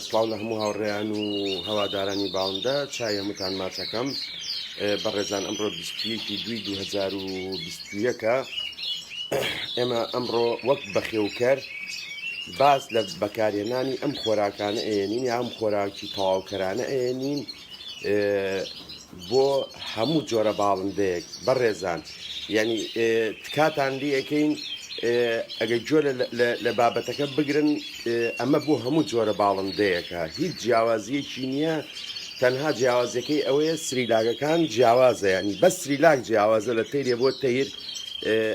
سڵاو لە هەموو هاوڕێیان و هەوادارانی باوندە چای هەمووتان ماچەکەم بەڕێزان ئەمڕۆ 21 دوی 2021ەکە ئێمە ئەمڕۆ وەک بەخێوکەر باس لە بەکارهێنانی ئەم خۆراکانە ئەێنین یام خۆراکی تەواوکەرانە ئەێنین بۆ هەموو جۆرە باڵندەیەک بەڕێزان ینی تکاتان لیەکەین ئەگە گوێ لە بابەتەکە بگرن ئەمە بۆ هەموو جۆرە باڵندەیەەکە هیچ جیاوازیەکی نییە تەنها جیاوازەکەی ئەوەیە سریلاگەکان جیاوازە ینی بە سریلاک جیاوازە لە تەیرێ بۆ تەیر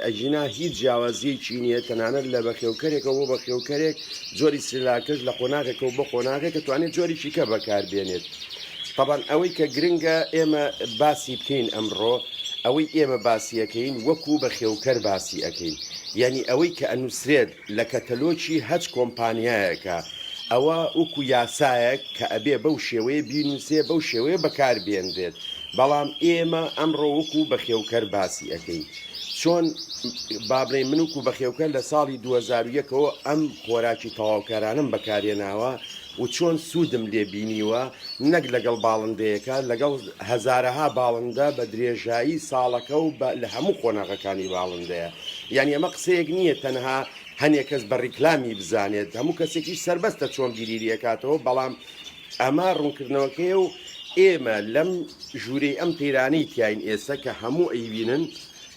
ئەگینا هیچ جیاوازیەکی نییە تەنانەت لە بەخێوکەرێکە بۆ بەخێوکەرێک جۆری سلاکەش لە قۆناغێکە و بە قۆناغێک کە توانێت جۆریی کە بەکاربێنێت. طبعاان ئەوەی کە گرنگە ئێمە باسی بکەین ئەمڕۆ ئەوەی ئێمە باسیەکەین وەکو بە خێوکەر باسی ئەەکەین یعنی ئەوەی کە ئەنووسرێت لە کەتەلۆکی هەچ کۆمپانیایەکە ئەوە وەکو یاسایەک کە ئەبێ بەو شێوەیە بینوسێ بەو شێوەیە بەکار بێنرێت بەڵام ئێمە ئەمڕۆ وەکو بەخێوکەر باسی ئەکەین چۆن با بڵێین من وەکو بەخێوکەر لە ساڵی دوو هەزار و یەکەوە ئەم خۆراکی تەواوکارانەم بەکارهێناوە و چۆن سوودم لێ بینیوە، نەک لەگەڵ باڵندەیەکە، لەگەڵ هەزارەها باڵندە بە درێژایی ساڵەکە و بە لە هەموو قۆناغەکانی باڵندەیە. یانی ئەمە قسەیەک نییە تەنها هەنێ کەس بە ڕیکلامی بزانێت، هەموو کەسێکیش سەربەستە چۆن بیری لێ کاتەوە، بەڵام ئەمە ڕوونکردنەوەکەیە و ئێمە لەم ژوورەی ئەم تەیرانەی تیاین ئێسە کە هەموو ئەیبینن،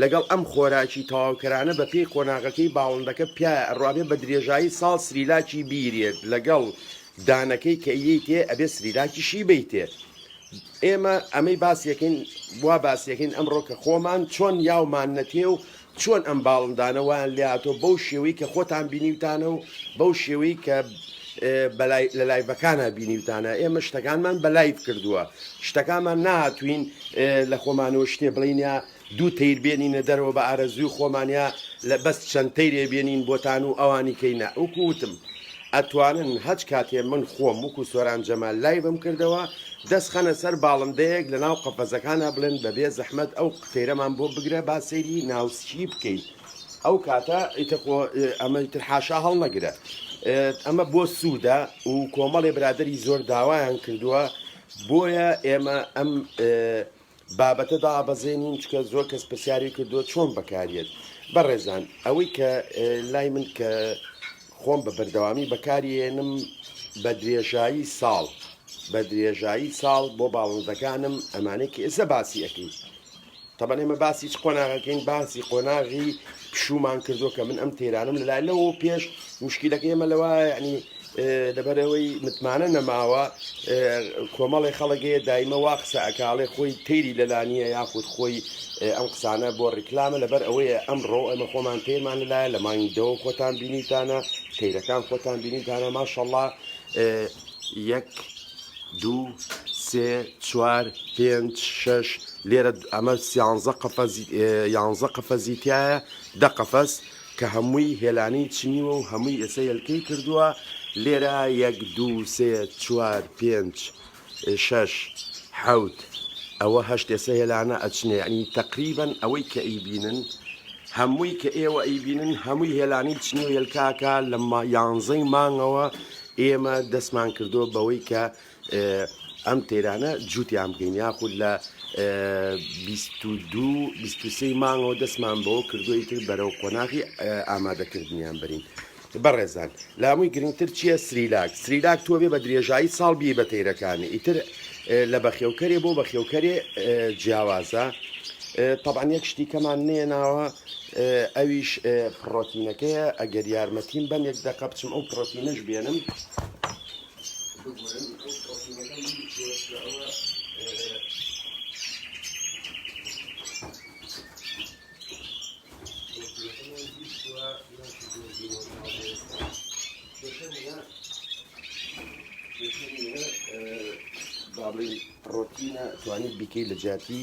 لەگەڵ ئەم خۆراکی تەواوکەرانە بە پێی قۆناغەکەی باڵندەکە پیاە ئەڕۆ ئەبێ بە درێژایی ساڵ سریلاکی بیرێت لەگەڵ دانەکەی کە یەیتێ ئەبێ سریلاکیشی بەیتێ ئێمە ئەمەی باسیەکەین وا باسیەکەین ئەمڕۆ کە خۆمان چۆن یاومان نەتێ و چۆن ئەم باڵندانە وایان لێهاتۆ بەو شێوەی کە خۆتان بینیوتانە و بەو شێوەی کە بەلای لە لایڤەکانە بینیوتانە ئێمە شتەکانمان بە لایڤ کردووە شتەکانمان ناتوین لە خۆمانەوە شتێ بڵین یا دوو تەیر بێنینە دەرەوە بە ئارەزووی خۆمان یا لە بەس چەند تەیرێ بێنین بۆتان و ئەوانی کەی نا وکو وتم ئەتوانن هەچ کاتێ من خۆم وکو سۆران جەمال لایڤم کردەوە دەس خەنە سەر باڵندەیەک لە ناو قەفەزەکانا بڵێن بە بێ زەحمەت ئەو قتەیرەمان بۆ بگرە با سەیری ناوسکی بکەی ئەو کاتە ئیتر خۆ ئەمە ئیتر حاشا هەڵنەگرە ئەمە بۆ سوودە و کۆمەڵێ برادری زۆر داوایان کردووە بۆیە ئێمە ئەم بابەتە دابەزێنین چکە زۆر کەس پرسیاری کردووە چۆن بەکاریت بەڕێزان ئەوەی کە لای من کە خۆم بە بەردەوامی بەکارێنم بە درێژایی ساڵ بە درێژایی ساڵ بۆ باڵندەکانم ئەمانەی کە ئێستا باسی ئەەکەین تەبەن ئێمە باسی چ قۆناغەکەین باسی قۆناغی پشوومان کردووە کە من ئەم تەیرانەم لە لای لەوە پێش مشکلەکە ئێمە لەوە یعنی لەبەرەوەی متمانە نەماوە کۆمەڵی خەڵگەیە دایمە وا قسە ئەکاڵێ خۆی تەیری لەلانیە یاخود خۆی ئەم قسانە بۆ ڕیکلامە لەبەر ئەوەیە ئەمڕۆ ئەمە خۆمان تێرمان لەلایە لە مانگی دەوە خۆتان بینیتانە تەیرەکان خۆتان بینیتانە ماشەڵڵا یەک دوو سێ چوار پێنج شش لێرە ئەمە سیانزە قەفەز یانزە قەفەزی تایە دە قەفەز کە هەمووی هێلانی چنیوە و هەمووی ئێسە هێلکەی کردووە لێرە یەک دوو سێ چوار پێنج شش حەوت ئەوە هەشت ئێسە هێلانە ئەچنێ ینی تقریبن ئەوەی کە ئیبینن هەمووی کە ئێوە ئەیبینن هەمووی هێلانی چنی و هێلکاکە لە یانزەی مانگەوە ئێمە دەستمان کردووە بەوەی کە ئەم تێرانە جووتیان بکەین یاخود لە دو سی مانگەوە دەستمان بەوە کردووی تر بەرەو قۆناغی ئامادەکردنیان برین بەڕێزان لامووی گرنگتر چییە سریلاک سریلاک تۆ بێ بە درێژایی ساڵ بی بە تێرەکانی ئیتر لە بەخێوکەرێ بۆ بەخێوکەرێ جیاوازە طبعا یەک شتی کەمان نێناوە ئەویش پڕۆتینەکەیە ئەگەر یارمەتیم بەن یەک دەقە بچم ئەو پڕۆتینەش بێنم بگورن ئەو پڕۆتینەکەم بیرکەوە بابلی پڕۆتینە توانی بیکەی لە جیاتی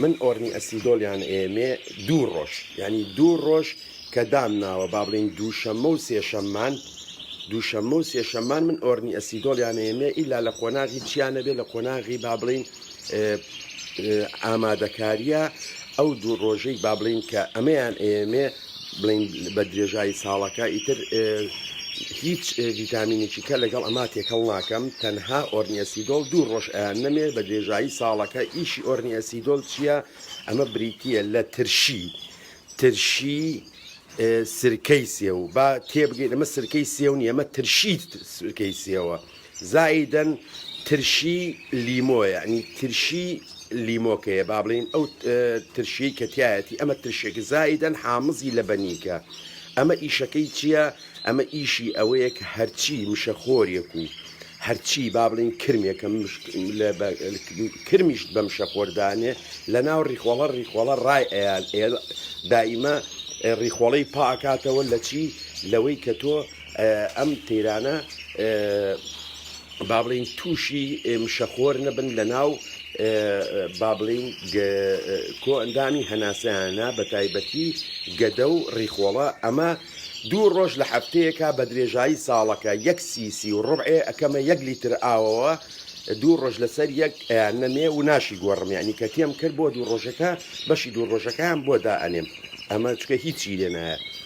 من ئۆرنی ئەسیدۆل یان ئێمێ دوو ڕۆژ یانی دوو ڕۆژ کە دام ناوە با بڵێین دووشەممە و سێشەممان دووشەممە و سێشەممان من ئۆرنی ئەسیدۆل یان ئێمێ ئیلا لە قۆناغی چیا نەبێ لە قۆناغی با بڵێین ئامادەکاریە ئەو دوو ڕۆژەی با بڵێین کە ئەمەیان ئێمێ بڵێین بە درێژایی ساڵەکە ئیتر هیچ ڤیتامینێکی کە لەگەڵ ئەما تێکەڵ ناکەم تەنها ئۆرنیەسیدۆل دوو ڕۆژ ئەیان نەمێ بە درێژایی ساڵەکە ئیشی ئۆرنیەسیدۆل چییە ئەمە بریتە لە ترشی ترشی سرکەی سێو با تێبگەین ئەمە سرکەی سێو نیە ئەمە ترشی سرکەی سێوە. زائیدەن ترشی لیمۆ یانی ترشی لیمۆکەیە با بڵین ئەو ترشی کە تایەتی ئەمە ترشێک زائیدەن حامزی لە بەنیکە ئەمە ئیشەکەی چییە ئەمە ئیشی ئەوەیە کە هەرچی مشەخۆرێک و هەرچی با بڵین کرمێکە کرمیشت بەم شەخۆردانێ لە ناو ڕیخۆڵە ڕیخۆڵە ڕای ئەیان دائیمە ڕیخۆڵەی پاکاتەوە لە چی لەوەی کە تۆ ئەم تەیرانە بابڵێین تووشی مشەخۆر نەبن لە ناو بابلین کۆ ئەندامی هەناسەیانە بە تایبەتی گەدە و ڕیخۆڵە ئەمە دوو ڕۆژ لە هەفتەیەکە بە درێژایی ساڵەکە یەک سیسی و ڕبعێ ئەەکەمە یەک لیتر ئاوەوە دوو ڕۆژ لەسەر یەک ئەیان نەمێ و ناشی گۆڕمیانی کە تێم کرد بۆ دوو ڕۆژەکە بەشی دوو ڕۆژەکەیان بۆ دائەنێم ئەمە چکە هیچی لێ نایە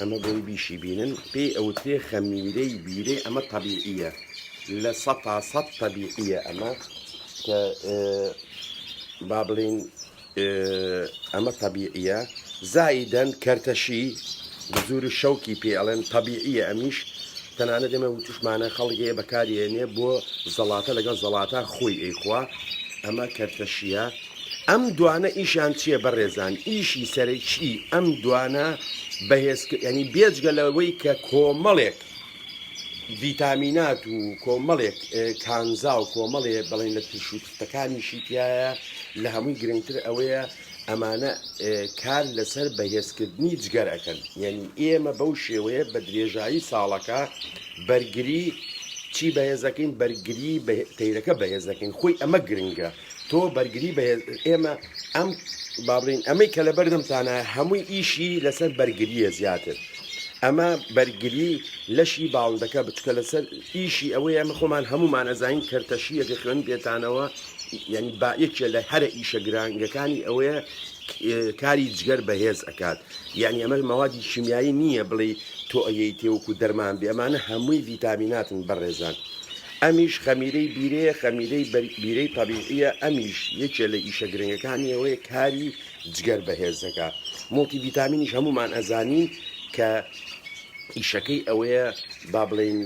ئەمە بۆی بیشی بینن پێی ئەوترێ خەمیرەی بیرەی ئەمە تەبیعیە لە سە تا سە تەبیعیە ئەمە کە با بڵین ئەمە تەبیعیە زایدەن کەرتەشی بزور و شەوکی پێ ئەڵێن تەبیعیە ئەمیش تەنانە دەمە وتوشمانە خەڵگەیە بەکارێنێ بۆ زەڵاتە لەگەڵ زەڵاتە خۆی ئەیخوا ئەمە کەرتەشیە ئەم دوانە ئیشیان چیە بەڕێزان ئیشی سەرەکی ئەم دوانە بەهێز ینی بێجگە لەوەی کە کۆمەڵێک ڤیتامینات و کۆمەڵێک کانزا و کۆمەڵێ بڵین لە ترش و تختەکانیشی تایە لە هەمووی گرنگتر ئەوەیە ئەمانە کار لەسەر بەهێزکردنی جگەر ئەەکەن یعنی ئێمە بەو شێوەیە بە درێژایی ساڵەکە بەرگری چی بەهێزەکەین بەرگری تەیرەکە بەهێزەکەین خۆی ئەمە گرنگە تۆ بەرگری بەهێز ئێمە ئەم بابلین ئەمەی کە لەبەردەم تانە هەمووی ئیشی لەسەر بەرگریە زیاتر ئەمە بەرگری لەشی باڵندەکە بچکە لەسەر ئیشی ئەوەی ئەمە خۆمان هەمومان ئەزانین کەرتەشی یەکە خوێن بێتانەوە ینی با یەکێ لە هەرە ئیشە گرانگەکانی ئەوەیە کاری جگەر بەهێز ئەکات یعنی ئەمە مەوادی شیمیایی نییە بڵێ تۆ ئەیەی تێوەکو دەرمان بێ ئەمانە هەمووی ڤیتامیناتن بەڕێزان. ئەمیش خەمیرەی بیرەیە خەمیرەی بیرەی تەبیعیە ئەمیش یەکێ لە ئیشە گرنگەکانی ئەوەیە کاری جگەر بەهێزەکە مڵتی ڤیتامینیش هەمومان ئەزانین کە ئیشەکەی ئەوەیە با بڵین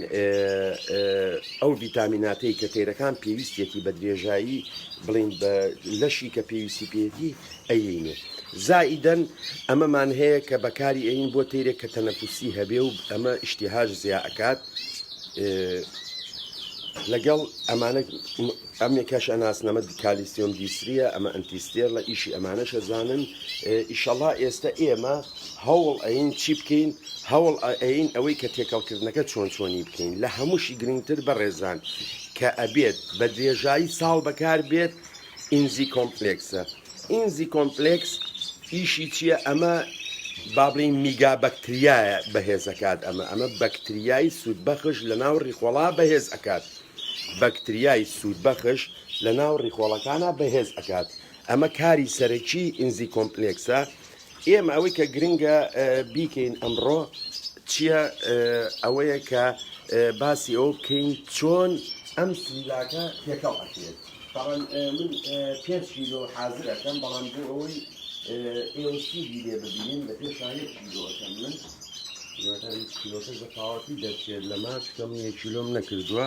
ئەو ڤیتامیناتەی کە تێرەکان پێویستێتی بە درێژایی بڵین بە لەشی کە پێویستی پێێتی ئەیین و زائیدەن ئەمەمان هەیە کە بەکاری ئەیین بۆ تەیرێک کە تەنەفوسی هەبێ و ئەمە ئیشتیهاش زیا ئەکات لەگەڵ ئەمانە ئەمێکەش ئەناسنەمە کالیسیۆم دیسریە ئەمە ئەنتیستێر لە ئیشی ئەمانەشە زانن ئیشەڵا ئێستا ئێمە هەوڵ ئەین چی بکەین هەوڵ ئەین ئەوەی کە تێکەڵکردنەکە چۆن چۆنی بکەین لە هەمووشی گرنگتر بەڕێزان کە ئەبێت بە درێژایی ساڵ بەکار بێت ئینزی کۆمپلێکسە ئینزی کۆمپلێکس ئیشی چییە ئەمە بابلین میگا بەکتریایە بەهێزەکات ئەمە ئەمە بەکتریای سوودبەخش لە ناو ڕیخۆڵا بەهێز ئەکات بەکتریای سوودبەخش لە ناو ڕیخۆڵەکانە بەهێز ئەکات ئەمە کاری سەرەکی ئینزی کۆمپلێکسە ئێمە ئەوەی کە گرنگە بیکەین ئەمڕۆ چییە ئەوەیە کە باسی ئەوە بکەین چۆن ئەم سنداکە تێکەڵ ئەکرێت بەڵام من پێنج کیلۆ حاضر ئەەکەم بەڵام بۆ ئەوەی ئێوە شیری لێ ببینین لە پێش شاهێت کیلۆ ئەەکەم من کیلۆکەش بە تاواتی دەچێت لەمە چکە من یە کیلۆم نەکردووە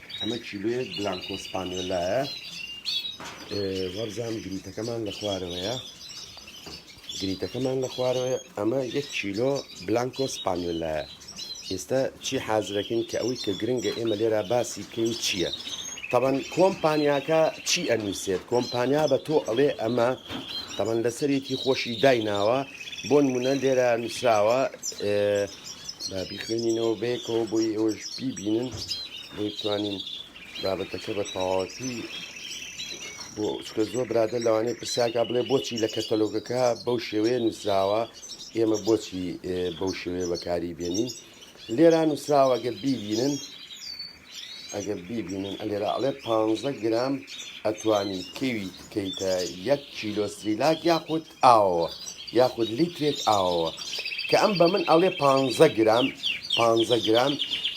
ئەمە کیلۆیەک بلانکۆ سپانیۆلایە وەرزان گریتەکەمان لە خوارەوەیە گریتەکەمان لە خوارەوەی ئەمە یەک کیلۆ بلانکۆ سپانیۆلایە ئێستا چی حازرەکەین کە ئەوەی کە گرنگە ئێمە لێرا باسی بکەین چییە تەبەن کۆمپانیاکە چی ئەنووسێت کۆمپانیا بە تۆ ئەڵێ ئەمە تەبەن لەسەرێکی خۆشی دایناوە بۆن منە لێرە نووسراوە با بیخوێنینەوە بەیەکەوە بۆی ئێوەش بیبینن بۆ بتوانین بابەتەکە بە تەواوەتی بۆ چکە زۆر برادە لەوانەیە پرسیاکە بڵێ بۆچی لە کەتەلۆگەکە بەو شێوەیە نووسراوە ئێمە بۆچی بەو شێوێ بەکاری بێنین لێرا نووسراوە گە بیبینن ئەگە بیبینن ئەلێرا ئەڵێ پ گرام ئەتوانی کەوی بکەیتە یەک کیلۆ سریلاک یاخود ئاوەوە یاخود لیترێک ئاوەوە کە ئەم بە من ئەڵێ پانزە گرام پانزە گرام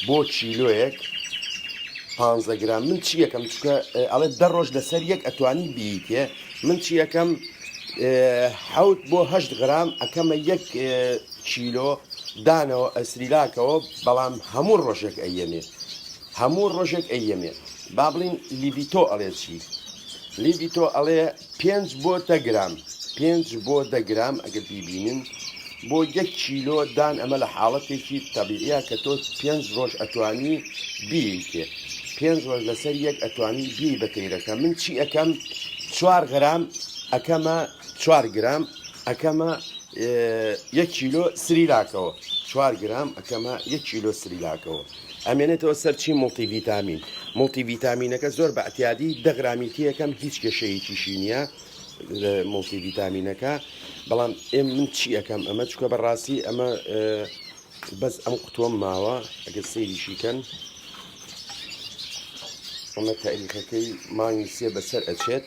بۆ کیلۆیەک پانزە گرام من چی یەکەم چکە ئەڵێ دە ڕۆژ لەسەر یەک ئەتوانی بیتێ من چی یەکەم حوت بۆ هەشت گرام ئەکەمە یەک کیلۆ دانەوە ئەسریلاکەوە بەڵام هەموو ڕۆژێک ئەیەمێ هەموو ڕۆژێک ئەیەمێ با بڵین لیبیتۆ ئەڵێ چی لیبیتۆ ئەڵێ پێنج بۆ دە گرام پێنج بۆ دە گرام ئەگەر بیبینن بۆ یەک کیلۆ دان ئەمە لە حاڵەتێکی تەبیعیە کە تۆ پێنج ڕۆژ ئەتوانی بیکێ پێنج ڕۆژ لەسەر یەک ئەتوانی بی بە تەیرەکە من چی ئەەکەم چوار غرام ئەەکەمە چوار گرام ئەەکەمە یەک کیلۆ سریلاکەوە چوار گرام ئەەکەمە یەک کیلۆ سریلاکەوە ئەمێنێتەوە سەر چی موڵتی ڤیتامین موڵتی ڤیتامینەکە زۆر بە ئەتیادی دەغرامی تیەکەم هیچ کێشەیەکیشی نییە موڵتی ڤیتامینەکە بەڵام ئێم من چی ئەەکەم ئەمە چکە بەڕاستی ئەمە بەس ئەم قوتووەم ماوە ئەگەر سەیریشیکەن ئەمە تاریخەکەی مانگی سێ بەسەر ئەچێت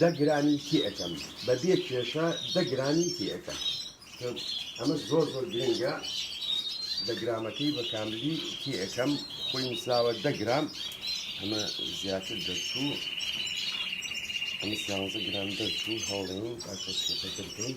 دە گرانی تێ ئەکەم بە بێ کێشە دە گرانی تێ ئەکەم ئەمە زۆر زۆر گرنگە دە گرامەکەی بە کاملی تێ ئەەکەم خۆی نووسراوە دە گرام ئەمە زیاتر دەرچوو ئەمە سیانزە گرام دەرچوو هەوڵێن ئەکەسەکە دەکەین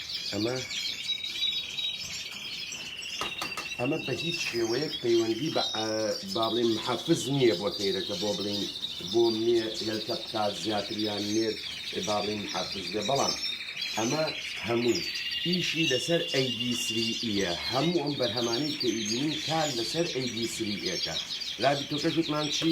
ئەمە ئەمە بە هیچ شێوەیەک پەیوەندی بە با بڵێن محافز نییە بۆ تەیرەکە بۆ بڵین بۆ مێ هێلکە بکات زیاتریان نێر با بڵین محافز بێ بەڵام ئەمە هەموو ئیشی لەسەر ئەیدی سریە هەموو ئەم بەرهەمانەی کە ئیدینین کار لەسەر ئەیدی سریەکە رابی تۆکەش وتمان چی؟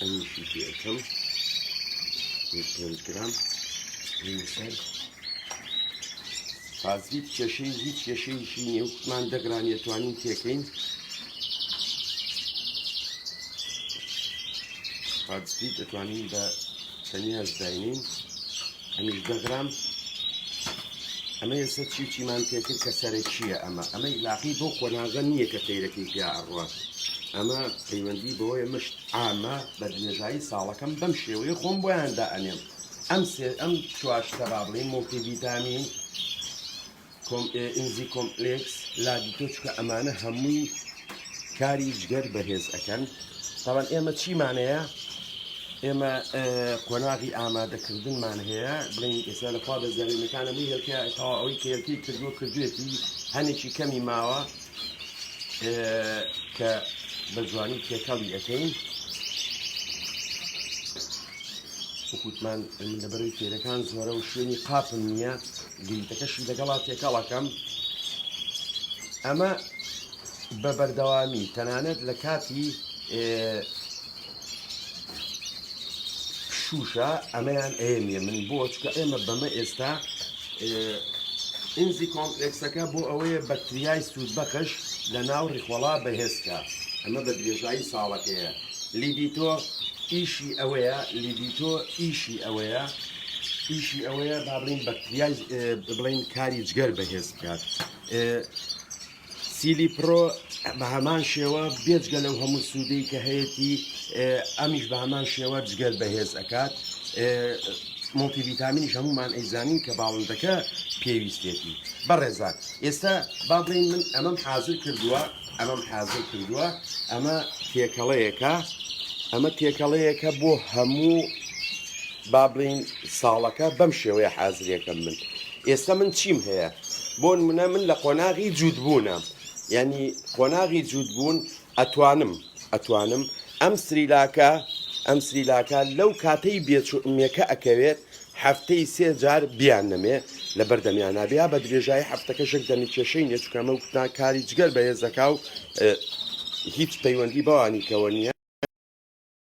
ئەمیشی پێ ئەکەم پێنج گرام سەر فازیت کێشەی هیچ کێشەیەکی نیە وتمان دەگرانیە توانین تێکەین فازیت دەتوانین بە تەنیا زداینین ئەمیش دەگرام ئەمە ئێستا چی و چیمان پێکرد کە سەرەکیە ئەمە ئەمە ئیلاقی بۆ قۆناغە نییە کە تەیرەکەی پیا ئەڕوات ئەمە پەیوەندی بەوەیە مشت ئامە بە درێژایی ساڵەکەم بەم شێوەیە خۆم بۆیاندا ئەنێم ئەم سێ ئەم چواشتە با بڵین مڵتی ڤیتامین ئینزی کۆمپلێکس لادیتۆ چکە ئەمانە هەمووی کاری جگەر بەهێز ئەەکەن تاوان ئێمە چیمانەیە ئێمە قۆناغی ئامادەکردنمان هەیە بڵین ئێستا لە خوا بەزیێنەکان هەمووی هێلکە تاوا ئەوەی کە هێلکی کردووە کردوێتی هەنێکی کەمی ماوە کە بە جوانی تێکەڵی ئەەکەین وکوتمان لەبەرەی تێرەکان زۆرە و شوێنی قاپم نییە گریتەکەشی لەگەڵا تێکەڵ ئەکەم ئەمە بە بەردەوامی تەنانەت لە کاتی شوشە ئەمەیان ئەێنە من بۆ چکە ئێمە بەمە ئێستا ئینزی کۆمپلکسەکە بۆ ئەوەیە بەکتریای سوود بەخش لە ناو ڕیخۆڵا بەهێزکە ئەمە بە درێژایی ساڵەکەیە لیدیتۆ ئیشی ئەوەیە لیدیتۆ ئیشی ئەوەیە ئیشی ئەوەیە با بڵین بەکتریای بڵین کاری جگەر بەهێز بکات سیلی پرۆ بە هەمان شێوە بێجگە لەو هەموو سوودەی کە هەیەی ئەمیش بە هەمان شێوە جگەر بەهێز ئەکات مڵتی ویتامینیش هەمومان ئەیزانین کە باڵندەکە پێویستێتی بەڕێزان ئێستا با بڵین من ئەمەم حاضر کردووە ئەمەم حاضر کردووە ئەمە تێکەڵەیەەکە ئەمە تێکەڵەیەەکە بۆ هەموو با بڵێین ساڵەکە بەم شێوەیە حازرێکەم من ئێستا من چیم هەیە بۆ نمونە من لە قۆناغی جووتبوونە یعنی قۆناغی جووتبوون ئەتوانم ئەتوانم ئەم سریلاکە ئەم سریلاکە لەو کاتەی بێچمێکە ئەکەوێت هەفتەی سێ جار بیان نەمێ لە بەردەمیان نابیا بە درێژایی هەفتەکە شک دەمی کێشەی نێچکەمە و کوتنا کاری جگەر بەهێزەکە و هیچ پەیوەندی بەوانی کەەوە نیە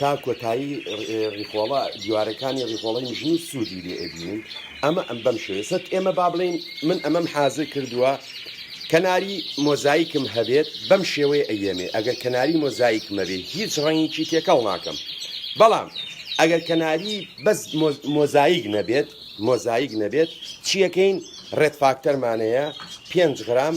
تا کۆتایی ڕیخۆڵە دیوارەکانی ڕیخۆڵی مژنی سوودی لێ ئەبینین ئەمە ئەم بەم شێوێ سەت ئێمە با بڵین من ئەمەم حازر کردووە کەناری مۆزایکم هەبێت بەم شێوەیە ئەیەمێ ئەگەر کەناری مۆزایکمە بێ هیچ ڕەنگیی تێکەڵ ناکەم بەڵام ئەگەر کەناری بەس مۆزایک نەبێت مۆزایک نەبێت چیەکەین ڕێت فاکتەرمانەیە پێنج غرام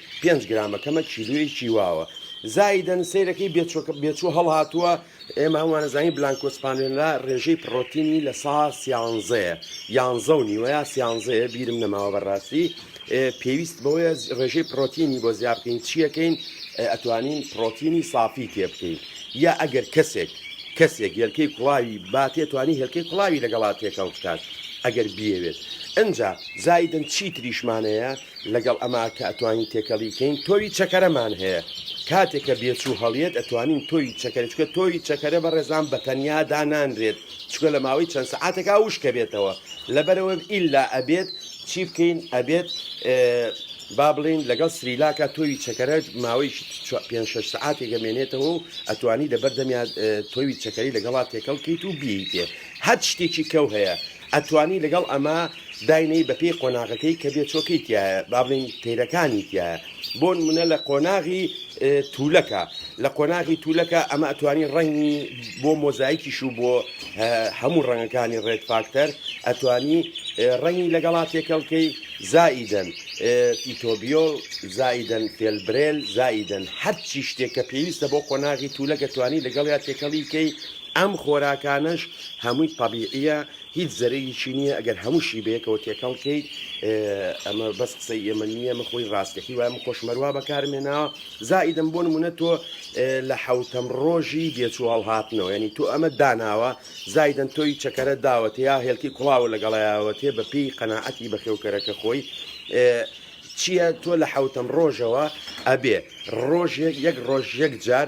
پێنج گرامەکەمە کیلویەکی واوە زایدەن سیرەکەی بێچوو هەڵهاتووە ئێمە هەموانەزانانی بلانکۆسپانێنلا ڕێژەی پڕۆتینی لە سا سیانزەیە یانزە و نیوەیە سیانزەیە بیرم نەماوە بەڕاستی پێویست بەوەیە ڕێژەی پرۆتینی بۆ زیاب بکەین چیەکەین ئەتوانین پرۆتینی سافی تێ بکەین یا ئەگەر کەسێک کەسێک هێلکەی کوڵاوی باتێ توانی هێلکەی کوڵاوی لەگەڵا تێکەڵ بکات ئەگەر بیەوێت ئەجا زایدن چی تریشمانەیە لەگەڵ ئەمە کە ئەتوانین تێکەڵی کەین تۆوی چەکەرەمان هەیە کاتێک کە بێچوو هەڵیێت ئەتوانین تۆوی چەکەرە چکە تۆوی چەکەرە بە ڕێزان بە تەنیا دانانرێت چکە لە ماوەی چەند سەعاتێکا وشکە بێتەوە لەبەرەوە ئیلا ئەبێت چی بکەین ئەبێت با بڵین لەگەڵ سریلاکە تۆوی چەکەرە ماوەی پێ شش سعاتێک گەمێنێتەوە و ئەتوانی لە بەردەمیان تۆوی چەکەری لەگەڵا تێکەڵ کەیت و بیتێ هەر شتێکی کەو هەیە ئەتوانی لەگەڵ ئەمە داینێی بەپێی قۆناغەکەی کە بێچۆکەی تیایە با بڵێین تەیرەکانی تیایە بۆنمونە لە قۆناغی تولەکە لە قۆناغی تولەکە ئەمە ئەتوانی ڕەنگی بۆ مۆزایکیش و بۆ هەموو ڕەنگەکانی ڕێت فاکتەر ئەتوانی ڕەنگی لەگەڵا تێکەڵکەی زائیدەن پیتۆبیۆل زائیدەن فێلبرێل زائیدەن هەرچی شتێک کە پێویستە بۆ قۆناغی تولەکە توانی لەگەڵ یا تێکەڵیکەی ئەم خۆراکانەش هەمووی تەبیعیە هیچ زەرەیەکی نیە ئەگەر هەمووشی بەیەکەوە تێکەڵ کەیت ئەمە بەس قسەی ئێمە نیە من خۆی ڕاستەکی وای من خۆشمەر وا بەکارم هێناوە زائیدم بۆ نمونە تۆ لە حەوتەم ڕۆژی بێچوو هەڵهاتنەوە یعنی تۆ ئەمە داناوە زائیدەن تۆی چەکەرە داوەتێ یا هێلکی کوڵاوە لەگەڵایەوەتێ بە پێی قەناعەتی بەخێوکەرەکە خۆی چییە تۆ لە حەوتەم ڕۆژەوە ئەبێ ڕۆژێک یەک ڕۆژ یەک جار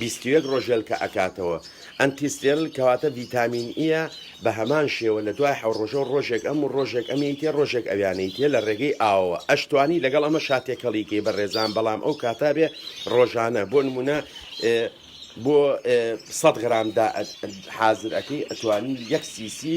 بیست و یەک ڕۆژێلکە ئەکاتەوە ئەنتی ستێرل کەواتە ڤیتامین ئیە بە هەمان شێوە لە دوای حەو ڕۆژەوە ڕۆژێک ئەم و ڕۆژێک ئەم یەیتێ ڕۆژێک ئەویانە یتێ لە ڕێگەی ئاوەوە ئەشتوانی لەگەڵ ئەمە شا تێکەڵی کەی بەڕێزان بەڵام ئەو کاتە بێ ڕۆژانە بۆ نمونە بۆ سەد غرام دا حازر ئەکەی ئەتوانی یەک سی سی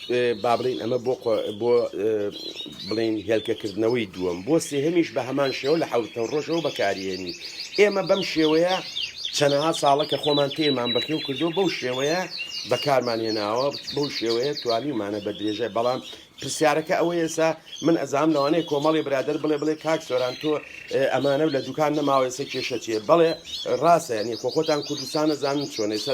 با بڵێین ئەمە بۆ بۆ بڵین هێلکەکردنەوەی دووەم بۆ سێهمیش بە هەمان شێوە لە حوتە ڕۆژەوە بەکارهێنی ئێمە بەم شێوەیە چەنەها ساڵە کە خۆمان تێمان بەخێو کردو بەو شێوەیە بەکارمان هێناوە بەو شێوەیە توانیمانە بە درێژە بەڵام پرسیارەکە ئەوەیە ئێسا من ئەزام لەوانەیە کۆمەڵی برادر بڵێ بڵێ کاک سۆران تۆ ئەمانە لە دوکان نەماوەێسە کێشە چێ بڵێ ڕاستە نیە خۆ خۆتان کوردستانە زانن چۆنێسە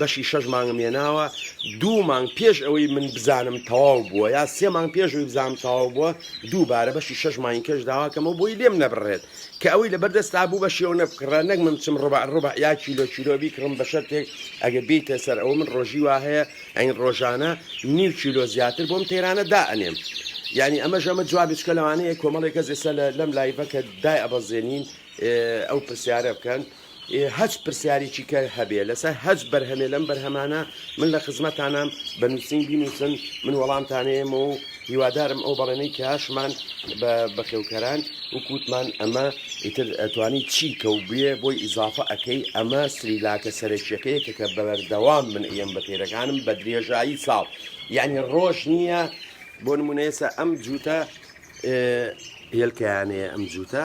بەشی شەش مانگم هێناوە دوو مانگ پێش ئەوەی من بزانم تەواو بووە یا سێ مانگ پێشوی بزانام تەواو بووە دووبارە بەشی شەش مانگی کەش داواکەمەوە بۆی لێم نەبڕێت کە ئەوەی لە بەردەستا بوو بە شێوە نەبکڕە نەک من بچم ڕبع ڕبع یا کیلۆ کیلۆ بیکڕم بە شەرتێک ئەگە بیتە سەر ئەوە من ڕۆژی وا هەیە ئەین ڕۆژانە نیو کیلۆ زیاتر بۆم تەیرانە دا ئەنێم یعنی ئەمە ژەمە جواب بچکە لەوانەیە کۆمەڵێک کەس ئێستا لەم لایڤەکە دای ئەبەزێنین ئەو پرسیارە بکەن هەچ پرسیاریکی کە هەبێ لەسەر هەچ بەرهەمێ لەم بەرهەمانە من لە خزمەتانام بە نووسین بینووسن من وەڵامتانەیەمە و هیوادارم ئەو بەڵێنەی کە هاشمان بە بەخێوکەران وکووتمان ئەمە ئیتر ئەتوانی چی کە و بێ بۆی ئیزافە ئەەکەی ئەمە سریلاکە سەرەکیەکەیە کە کە بەبەردەوام من ئەم بە پێرەکانم بە درێژایی ساڵ یعنی ڕۆژ نییە بۆ نمونەیەسە ئەم جووتە هێلکەیانەیە ئەم جووتە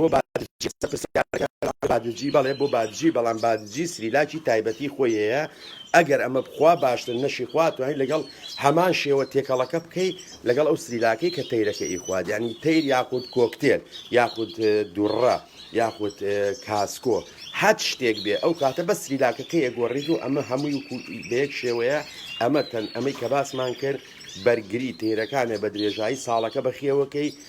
بۆ بادرچی قسە پرسیارەکە لەبارەی بادرجی بەڵێ بۆ بادرجی بەڵام بادرجی سریلاکی تایبەتی خۆی هەیە ئەگەر ئەمە بخوا باشتر نەشی خوا توانیت لەگەڵ هەمان شێوە تێکەڵەکە بکەی لەگەڵ ئەو سریلاکەی کە تەیرەکە ئی خوارد یعنی تەیر یاخود کۆکتێل یاخود دوڕە یاخود کاسکۆ هەت شتێک بێ ئەو کاتە بە سریلاکەکە یەگۆڕیت و ئەمە هەمووی و بەیەک شێوەیە ئەمە تەن ئەمەی کە باسمان کرد بەرگری تێرەکانێ بە درێژایی ساڵەکە بەخێوەکەی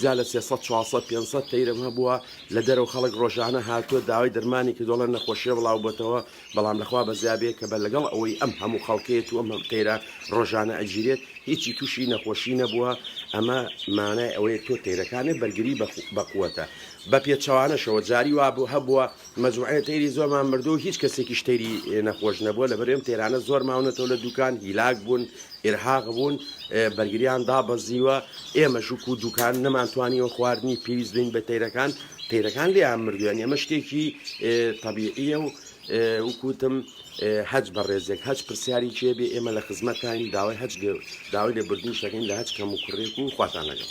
زیاد لە سێ سەد چوار سەد پێنج سەد تەیرم هەبووە لە دەرەوە خەڵک ڕۆژانە هاتووە داوای دەرمانی کردووە ئەڵێن نەخۆشیە بڵاو بۆتەوە بەڵام لەخوا بەزیا بێ کە بە لەگەڵ ئەوەی ئەم هەموو خەڵکەیەت و ئەم هەم تەیرە ڕۆژانە ئەگیرێت هیچی تووشی نەخۆشی نەبووە ئەمە مانای ئەوەیە تۆ تەیرەکانێ بەرگری بە بەقوەتە بە پێچەوانەشەوە جاری وا هەبووە مەجموعەی تەیری زۆرمان بردووە و هیچ کەسێکیش تەیری نەخۆش نەبووە، لەبەر ئێمە تەیرانە زۆر ماونەتەوە لە دووکان، هیلاک بوون، ئیرهاق بوون، بەرگریان دابەزیوە، ئێمەش وەکوو دووکان نەمانتوانیوە خواردنی پێویست بدەین بە تەیرەکان، تەیرەکان لێیان مردوویان، ئەمە شتێکی تەبیعییە و وەکوو وتم هەچ بەڕێزێک، هەچ پرسیاریکی هەبێ ئێمە لە خزمەتتاین، داوای هەچ داوای لێبوردنیش دەکەین لە هەچ کەموکوڕییەک و خواتان لەگەڵ.